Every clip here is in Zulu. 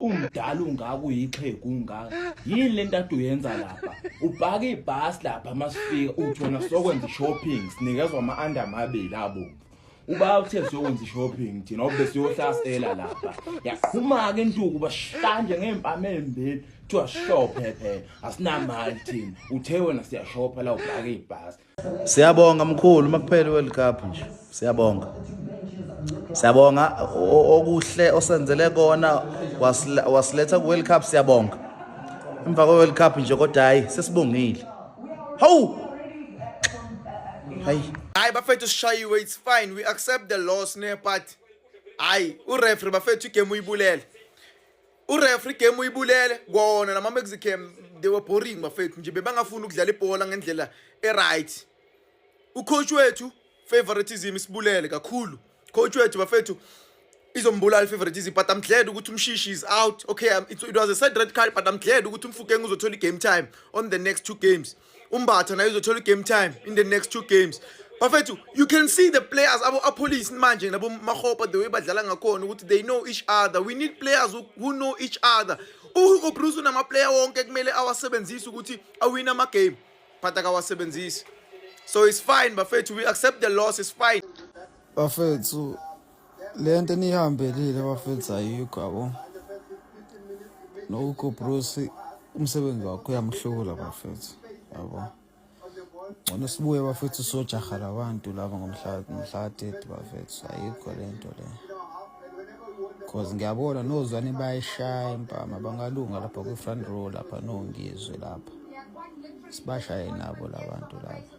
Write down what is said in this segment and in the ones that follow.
Umdala ungaka uyixhegu ungaka. Yini lento ade uyenza lapha? Ubhaka ibhasi lapha masifika uthi wena sokwenza shopping sinikezwa ama under amabili abo. Uba uthe siyokwenza shopping thina obe siyohlasela lapha. Yaqhuma ke intuku bashanje ngempama embili. Kuthiwa shophe phela asinamali thina. Uthe wena siyashopha la ubhaka ibhasi. Siyabonga mkhulu uma kuphela iWorld Cup nje. Siyabonga. Siyabonga okuhle osenzele kona wasiletha kuWorld Cup siyabonga. Emva kweWorld Cup nje kodwa hayi sesibongile. Hawu! Hayi. Hayi bafethu sishayiwe it's fine we accept the loss ne but hayi ureferee bafethu igame uyibulele. urefri game uyibulele kona lama mexicam they were boring bafethu nje bebangafuni ukudlala ibhola ngendlela eright ucoach wethu favoritism isibulele kakhulu coach wethu bafethu izombulala ifavoritism but i'm glad ukuthi umshishi is out okay um, it, it was a sad red card but i'm glad ukuthi umfukeng uzothola i-game time on the next two games umbatha naye uzothola i-game time in the next two games bafethu you can see the players abo apolice manje nabo mahopa the way badlala ngakhona ukuthi they know each other we need players who know each other uhugo bruce unamaplayer wonke kumele awasebenzise ukuthi awine amagame but akawasebenzisi so it's fine bafethu we accept the loss it's fine bafethu le nto eniyihambelile bafethu ayikho yabo nohugo bruce umsebenzi wakho uyamhlula bafethu yabo ngcono sibuye bafethu sojaha labantu laba ngomhlatheti bafethu ayikho le nto le cause ngiyabona nozwane bayishaya impama bangalunga lapha kwi-front row lapha nongizwe lapha sibashaye nabo labantu laba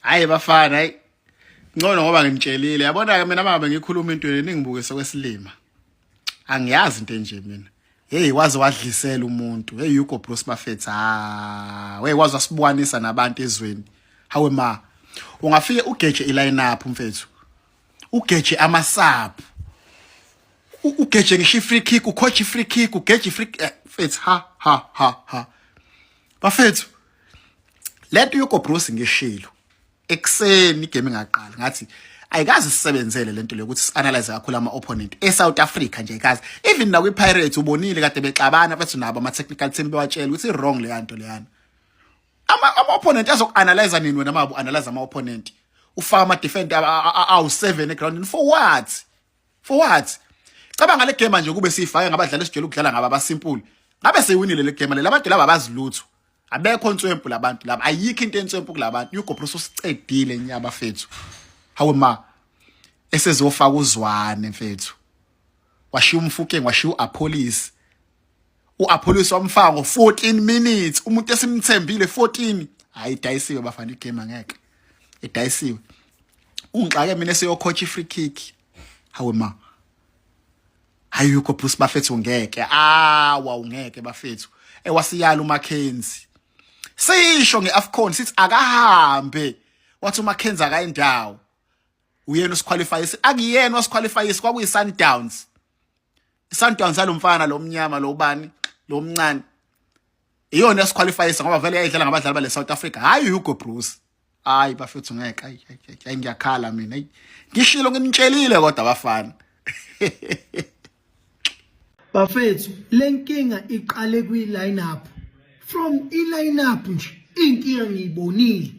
hayi bafana hayi ngcono ngoba nginitshelile yabona ke mina mama ngikhuluma into eningibuke sokwesilima angiyazi into enje mina hey waze wadlisela umuntu hey yuko bro sibafethu ha hey waze wasibwanisa nabantu ezweni hawe ma ungafike ugeje ilineup mfethu ugeje amasaphu ugeje ngisho free kick ucoach free kick ugeje free eh, mfethu ha ha ha ha bafethu lento yokobruce ngishilo ekuseni igame ingaqali ngathi ayikazi sisebenzele lento leyo ukuthi sianalyze kakhulu ama opponent e South Africa nje ayikazi even na kwi Pirates ubonile kade bexabana bathi nabo ama technical team bewatshela ukuthi wrong le yanto leyana ama ama opponent azokuanalyze nini wena mabu analyze ama opponent ufaka ama defender awu 7 eground for what for what cabanga le game nje kube sifake ngabadlali esijela ukudlala ngaba basimple ngabe seyiwinile le game laba bantu laba bazilutho abekho nswempu labantu laba ayikho into enswempu kulabantu you go bro sosicedile nyaba fethu hawe ma esezofaka uzwane mfethu washiya umfukeng washiya uapolice uApollos wamfaka ngo 14 minutes umuntu esimthembile 14 hayi dayisiwe bafana igame ngeke edayisiwe ungixake mina seyokhotha ifree kick hawe ma hayi yokho plus bafethu ngeke ah wawu ngeke bafethu ewasiyala uMackenzie sisho ngeAfcon sithi akahambe wathi uMackenzie akayindawo uyena usiqualifyisi akuyena wasiqualifyisi kwakuyiSundowns isantwana salomfana lo mnyama lo ubani lo mncane iyona esiqualifyisa ngoba vele yayidlala ngabadlali bale South Africa hayi Hugo Broos hayi bafethu ngeke ayi ngiyakhala mina ngishilo nginitshelile kodwa bafana bafethu lenkinga iqale kwi lineup from i lineup nje inkinga ngiyibonile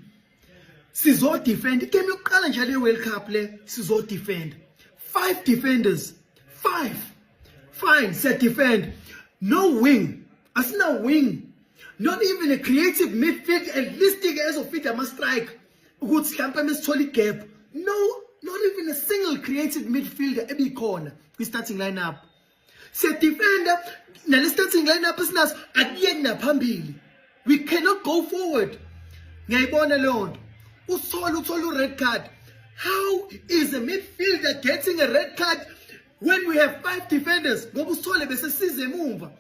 sizo defend igame yokuqala nje le World Cup le sizo defend five defenders five fine siya defend no wing asina wing not even a creative midfield at least ke ezofida ama strike ukuthi mhlawumbe mesithola igap no not even a single creative midfielder ebikhona kwi starting lineup siyadefenda nale starting lineup esinaso akuyeki naphambili we cannot go forward ngiyayibona leyo nto usola uthola u-red card how is a midfielder getting a red card when we have five defenders ngoba usithole besesize emumva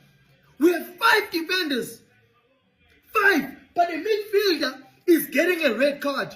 we have five defenders five but a midfielder is getting a red card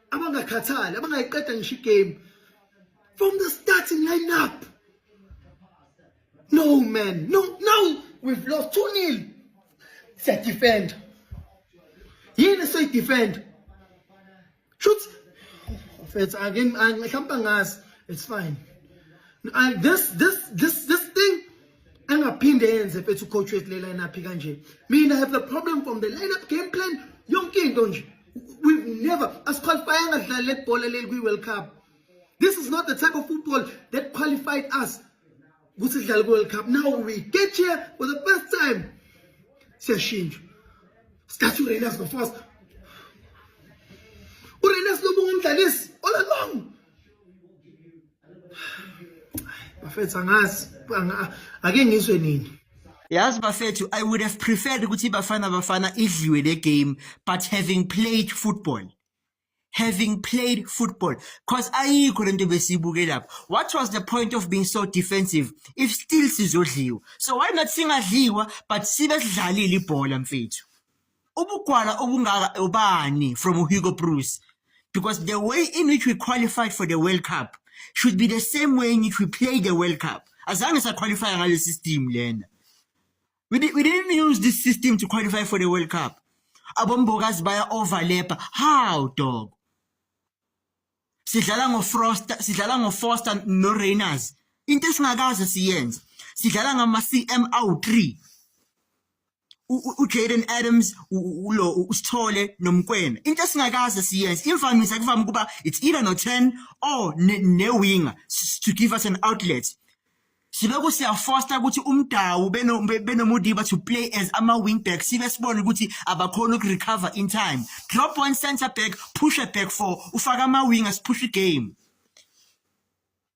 abangakhathali abangayiqeda ngisho igame from the starting lineup no man no no we've lost 2 nil siyadefenda yini soyidefenda shuthi mfethu ake mhlawumbe angazi it's fine I, this this this this thing angaphinde yenze mfethu ucoach wethu le lineup kanje mina have the problem from the lineup game plan yonke into nje we never asiqualifyanga dlala le bhola leli kwi-world cup this is not the type of football that qualified us ukuthi sidlale kwi-world cup now we get here for the first time siyashintsha sithatha urenas ngofast urenas lobu ngumdlalisi all along bafethu angazi ake ngizwe nini yazi bafethu i would have preferred ukuthi bafana bafana idliwe le game but having played football having played football because ayikho lento besiyibuke lapho what was the point of being so defensive if still sizodliwa so why not singadliwa but sibe sidlalile ibhola mfethu ubugwala obungaka ubani from uHugo Bruce because the way in which we qualified for the World Cup should be the same way in which we play the World Cup azange saqualify ngale system lena we, di we didn't use this system to qualify for the World Cup abombokazi baya overlap how dog sidlala ngo Frost sidlala ngo Foster no Rainers into esingakaze siyenze sidlala ngama CM awu 3 uJaden Adams ulo usithole nomkwena into esingakaze siyenze imvamisa kuvama ukuba it's either no 10 or ne winger to give us an outlet sibe kusiyafosta ukuthi umdawu beno benomudiba to play as ama wing back sibe sibona ukuthi abakhona uku recover in time drop one center back push a back four ufaka ama wingers push the game